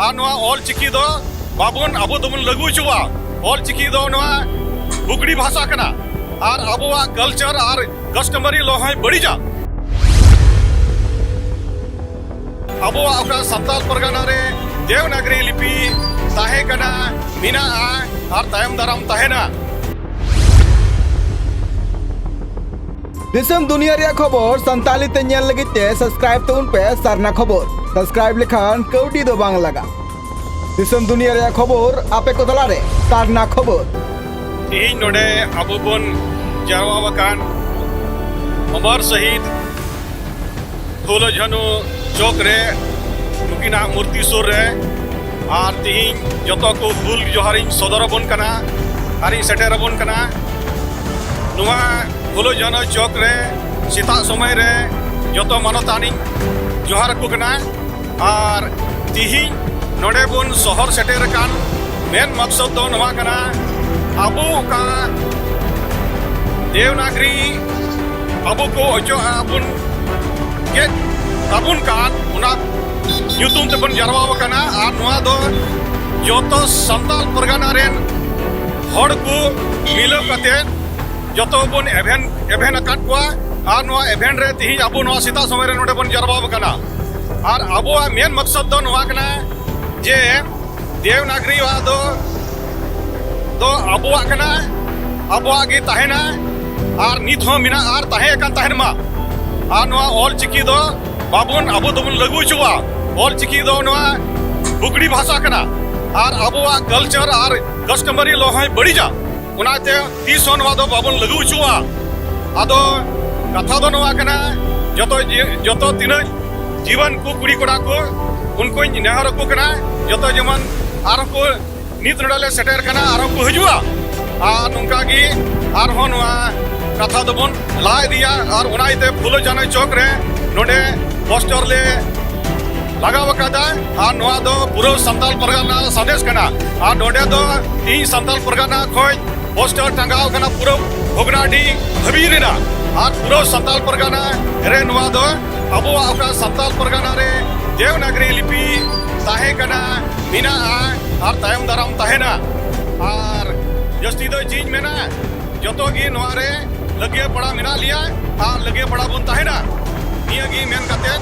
ᱟᱨ ᱱᱚᱣᱟ ᱚᱞ ᱪᱤᱠᱤ ᱫᱚ ᱵᱟᱵᱚᱱ ᱟᱵᱚ ᱫᱚᱵᱚᱱ ᱞᱟᱹᱜᱩ ᱦᱚᱪᱚᱣᱟ ᱚᱞ ᱪᱤᱠᱤ ᱫᱚ ᱱᱚᱣᱟ ᱵᱩᱜᱲᱤ ᱵᱷᱟᱥᱟ ᱠᱟᱱᱟ ᱟᱨ ᱟᱵᱚᱣᱟᱜ ᱠᱟᱞᱪᱟᱨ ᱟᱨ ᱠᱟᱥᱴᱚᱢᱟᱨᱤ ᱞᱚ ᱦᱚᱸᱭ ᱵᱟᱹᱲᱤᱡᱟ ᱟᱵᱚᱣᱟᱜ ᱚᱠᱟ ᱥᱟᱱᱛᱟᱞ ᱯᱟᱨᱜᱟᱱᱟ ᱨᱮ ᱫᱮᱣᱱᱟᱜᱨᱤ ᱞᱤᱯᱤ ᱛᱟᱦᱮᱸ ᱠᱟᱱᱟ ᱢᱮᱱᱟᱜᱼᱟ ᱟᱨ ᱛᱟᱭᱚᱢ ᱫᱟᱨᱟᱢ ᱛᱟᱦᱮᱱᱟ ᱫᱤᱥᱚᱢ ᱫᱩᱱᱤᱭᱟᱹ ᱨᱮᱭᱟᱜ ᱠᱷᱚᱵᱚᱨ ᱥᱟᱱᱛᱟᱞᱤ ᱛᱮ ᱧᱮᱞ ᱞᱟᱹᱜᱤᱫ ᱛᱮ ᱥᱟᱵᱥᱠᱨᱟᱭᱤᱵ ᱛᱟᱵᱚᱱ ᱯᱮ ᱥᱟᱨᱱᱟ ᱠᱷᱚᱵᱚᱨ ᱥᱟᱵᱥᱠᱨᱟᱭᱤᱵ ᱞᱮᱠᱷᱟᱱ ᱠᱟᱹᱣᱰᱤ ᱫᱚ ᱵᱟᱝ ᱞᱟᱜᱟ ᱫᱤᱥᱚᱢ ᱫᱩᱱᱤᱭᱟᱹ ᱨᱮᱭᱟᱜ ᱠᱷᱚᱵᱚᱨ ᱟᱯᱮ ᱠᱚ ᱛᱟᱞᱟ ᱨᱮ ᱥᱟᱨᱱᱟ ᱠᱷᱚᱵᱚᱨ ᱛᱮᱦᱮᱧ ᱱᱚᱰᱮ ᱟᱵᱚ ᱵᱚᱱ ᱡᱟᱨᱣᱟ ᱟᱠᱟᱱ ᱚᱢᱚᱨ ᱥᱚᱦᱤᱫ ᱯᱷᱩᱞᱚ ᱡᱷᱟᱱᱩ ᱪᱚᱠ ᱨᱮ ᱱᱩᱠᱤᱱᱟᱜ ᱢᱩᱨᱛᱤ ᱥᱩᱨ ᱨᱮ ᱟᱨ ᱛᱮᱦᱮᱧ ᱡᱚᱛᱚ ᱠᱚ ᱦᱩᱞ ᱡᱚᱦᱟᱨᱤᱧ ᱥᱚᱫᱚᱨ ᱟᱵᱚᱱ ᱠᱟᱱᱟ ᱟᱨᱤᱧ ᱥᱮᱴᱮᱨ ᱟᱵᱚᱱ ᱠᱟᱱᱟ ᱱᱚᱣᱟ ᱯᱷᱩᱞᱳ ᱡᱷᱟᱱᱳ ᱪᱚᱠ ᱨᱮ ᱥᱮᱛᱟᱜ ᱥᱚᱢᱚᱭ ᱨᱮ ᱡᱚᱛᱚ ᱢᱟᱱᱚᱛᱟᱱᱤ ᱡᱚᱦᱟᱨ ᱟᱠᱚ ᱠᱟᱱᱟ ᱟᱨ ᱛᱤᱦᱤᱧ ᱱᱚᱰᱮ ᱵᱚᱱ ᱥᱚᱦᱚᱨ ᱥᱮᱴᱮᱨ ᱟᱠᱟᱱ ᱢᱮᱱ ᱢᱟᱠᱥᱚᱫ ᱫᱚ ᱱᱚᱣᱟ ᱠᱟᱱᱟ ᱟᱵᱚ ᱚᱠᱟ ᱫᱮᱣᱱᱟᱜᱨᱤ ᱟᱵᱚ ᱠᱚ ᱚᱪᱚᱜ ᱟᱵᱚᱱ ᱜᱮᱫ ᱛᱟᱵᱚᱱ ᱠᱟᱱ ᱚᱱᱟ ᱧᱩᱛᱩᱢ ᱛᱮᱵᱚᱱ ᱡᱟᱨᱣᱟ ᱟᱠᱟᱱᱟ ᱟᱨ ᱱᱚᱣᱟ ᱫᱚ ᱡᱚᱛᱚ ᱥᱟᱱᱛᱟᱞ ᱯᱟᱨᱜᱟᱱᱟ ᱨᱮᱱ ᱦᱚᱲ ᱠᱚ ᱢᱤᱞᱟᱹᱣ ᱠᱟᱛᱮᱫ ᱡᱚᱛᱚ ᱵᱚᱱ ᱮᱵᱷᱮᱱ ᱮᱵᱷᱮᱱ ᱟᱠᱟᱫ ᱠᱚᱣᱟ ᱟᱨ ᱱᱚᱣᱟ ᱮᱵᱷᱮᱱ ᱨᱮ ᱛᱤᱦᱤᱧ ᱟᱵᱚ ᱱᱚᱣᱟ ᱥᱮᱛᱟᱜ ᱥᱚᱢᱚᱭ ᱨᱮ ᱱᱚᱰᱮ ᱵᱚᱱ ᱡᱟᱨᱣᱟ ᱟᱠᱟᱱᱟ ᱟᱨ ᱟᱵᱚᱣᱟᱜ ᱢᱮᱱ ᱢᱚᱠᱥᱚᱫ ᱫᱚ ᱱᱚᱣᱟ ᱠᱟᱱᱟ ᱡᱮ ᱫᱮᱣᱱᱟᱜᱨᱤ ᱣᱟᱜ ᱫᱚ ᱫᱚ ᱟᱵᱚᱣᱟᱜ ᱠᱟᱱᱟ ᱟᱵᱚᱣᱟᱜ ᱜᱮ ᱛᱟᱦᱮᱱᱟ ᱟᱨ ᱱᱤᱛ ᱦᱚᱸ ᱢᱮᱱᱟᱜ ᱟᱨ ᱛᱟᱦᱮᱸ ᱟᱠᱟᱱ ᱛᱟᱦᱮᱱ ᱢᱟ ᱟᱨ ᱱᱚᱣᱟ ᱚᱞ ᱪᱤᱠᱤ ᱫᱚ ᱵᱟᱵᱚᱱ ᱟᱵᱚ ᱫᱚᱵᱚᱱ ᱞᱟᱹᱜᱩ ᱦᱚᱪᱚᱣᱟ ᱚᱞ ᱪᱤᱠᱤ ᱫᱚ ᱱᱚᱣᱟ ᱵᱩᱜᱽᱲᱤ ᱵᱷᱟᱥᱟ ᱠᱟᱱᱟ ᱟᱨ ᱟᱵᱚᱣᱟᱜ ᱠᱟᱞᱪᱟᱨ ᱟᱨ ᱠᱟᱥᱴᱚᱢᱟᱨᱤ ᱞᱚ ᱦᱚᱸᱭ ᱵᱟᱹᱲᱤᱡᱟ ᱚᱱᱟᱛᱮ ᱛᱤᱥ ᱦᱚᱸ ᱱᱚᱣᱟ ᱫᱚ ᱵᱟᱵᱚᱱ ᱞᱟᱹᱜᱩ ᱦᱚᱪᱚᱣᱟ ᱟᱫᱚ ᱠᱟᱛᱷᱟ ᱫᱚ ᱱᱚᱣᱟ ᱠᱟᱱᱟ ᱡᱚᱛᱚ ᱡᱚᱛᱚ ᱛᱤᱱᱟᱹᱜ ᱡᱤᱣᱟᱱ ᱠᱚ ᱠᱩᱲᱤ ᱠᱚᱲᱟ ᱠᱚ ᱩᱱᱠᱩᱧ ᱱᱮᱦᱚᱨ ᱟᱠᱚ ᱠᱟᱱᱟ ᱡᱚᱛᱚ ᱡᱮᱢᱚᱱ ᱟᱨᱦᱚᱸ ᱠᱚ ᱱᱤᱛ ᱱᱚᱰᱮ ᱞᱮ ᱥᱮᱴᱮᱨ ᱠᱟᱱᱟ ᱟᱨᱦᱚᱸ ᱠᱚ ᱦᱤᱡᱩᱜᱼᱟ ᱟᱨ ᱱᱚᱝᱠᱟ ᱜᱮ ᱟᱨᱦᱚᱸ ᱱᱚᱣᱟ ᱠᱟᱛᱷᱟ ᱫᱚᱵᱚᱱ ᱞᱟᱦᱟ ᱤᱫᱤᱭᱟ ᱟᱨ ᱚᱱᱟ ᱤᱭᱟᱹᱛᱮ ᱯᱷᱩᱞᱳ ᱡᱟᱱᱚ ᱪᱚᱠ ᱨᱮ ᱱᱚᱰᱮ ᱯᱳᱥᱴᱚᱨ ᱞᱮ ᱞᱟᱜᱟᱣ ᱟᱠᱟᱫᱟ ᱟᱨ ᱱᱚᱣᱟ ᱫᱚ ᱯᱩᱨᱟᱹ ᱥᱟᱱᱛᱟᱞ ᱯᱟᱨᱜᱟᱱᱟ ᱥᱟᱸᱫᱮᱥ ᱠᱟᱱᱟ ᱟᱨ ᱱᱚᱰᱮ ᱫᱚ ᱤᱧ ᱥᱟᱱᱛᱟᱞ ᱯᱟᱨᱜᱟᱱᱟ ᱠᱷᱚᱱ ᱯᱳᱥᱴᱟᱨ ᱴᱟᱸᱜᱟᱣ ᱠᱟᱱᱟ ᱯᱩᱨᱟᱹ ᱵᱷᱚᱜᱽᱱᱟᱰᱤ ᱫᱷᱟᱹᱵᱤᱡ ᱨᱮᱱᱟᱜ ᱟᱨ ᱯᱩᱨᱟᱹ ᱥᱟᱱᱛᱟᱞ ᱯᱟᱨᱜᱟᱱᱟ ᱨᱮ ᱱᱚᱣᱟ ᱫᱚ ᱟᱵᱚᱣᱟᱜ ᱚᱠᱟ ᱥᱟᱱᱛᱟᱞ ᱯᱟᱨᱜᱟᱱᱟ ᱨᱮ ᱫᱮᱣᱱᱟᱜᱨᱤ ᱞᱤᱯᱤ ᱛᱟᱦᱮᱸ ᱠᱟᱱᱟ ᱢᱮᱱᱟᱜᱼᱟ ᱟᱨ ᱛᱟᱭᱚᱢ ᱫᱟᱨᱟᱢ ᱛᱟᱦᱮᱱᱟ ᱟᱨ ᱡᱟᱹᱥᱛᱤ ᱫᱚ ᱪᱮᱫ ᱢᱮᱱᱟ ᱡᱚᱛᱚ ᱜᱮ ᱱᱚᱣᱟ ᱨᱮ ᱞᱟᱹᱜᱤᱭᱟᱹ ᱯᱟᱲᱟ ᱢᱮᱱᱟᱜ ᱞᱮᱭᱟ ᱟᱨ ᱞᱟᱹᱜᱤᱭᱟᱹ ᱯᱟᱲᱟ ᱵᱚᱱ ᱛᱟᱦᱮᱱᱟ ᱱᱤᱭᱟᱹ ᱜᱮ ᱢᱮᱱ ᱠᱟᱛᱮᱫ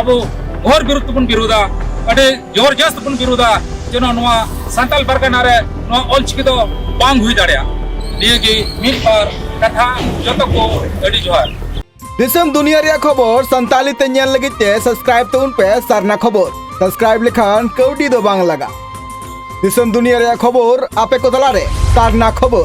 ᱟᱵᱚ ᱜᱷᱚᱨ ᱵᱤᱨᱩᱫ ᱛᱮᱵᱚᱱ ᱵᱤᱨᱩᱫᱟ ᱟᱹᱰᱤ ᱡᱳᱨ ᱡᱟᱥ ᱛᱮᱵᱚᱱ ᱵᱤᱨᱩᱫᱟ ᱡᱮᱱᱚ ᱱᱚᱣᱟ ᱥᱟᱱᱛᱟᱞ ᱯᱟᱨᱜᱟᱱᱟ ᱨᱮ ᱱᱚᱣᱟ ᱚᱞᱪᱤᱠᱤ ᱫᱚ ᱵᱟᱝ ᱦᱩᱭ ᱫᱟᱲᱮᱭᱟᱜᱼᱟ ᱱᱤᱭᱟᱹ ᱜᱮ ᱢᱤᱫ ᱵᱟᱨ ᱠᱟᱛᱷᱟ ᱡᱚᱛᱚ ᱠᱚ ᱟᱹᱰᱤ ᱡᱚᱦᱟᱨ ᱫᱤᱥᱚᱢ ᱫᱩᱱᱤᱭᱟᱹ ᱨᱮᱭᱟᱜ ᱠᱷᱚᱵᱚᱨ ᱥᱟᱱᱛᱟᱞᱤ ᱛᱮ ᱧᱮᱞ ᱞᱟᱹᱜᱤᱫ ᱛᱮ ᱥᱟᱵᱥᱠᱨᱟᱭᱤᱵ ᱛᱟᱵᱚᱱ ᱯᱮ ᱥᱟᱨᱱᱟ ᱠᱷᱚᱵᱚᱨ ᱥᱟᱵᱥᱠᱨᱟᱭᱤᱵ ᱞᱮᱠᱷᱟᱱ ᱠᱟᱹᱣᱰᱤ ᱫᱚ ᱵᱟᱝ ᱞᱟᱜᱟ ᱫᱤᱥᱚᱢ ᱫᱩᱱᱤᱭᱟᱹ ᱨᱮᱭᱟᱜ ᱠᱷᱚᱵᱚᱨ ᱟᱯᱮ ᱠᱚ ᱛᱟᱞᱟᱨᱮ ᱥᱟᱨᱱᱟ ᱠᱷᱚᱵᱚᱨ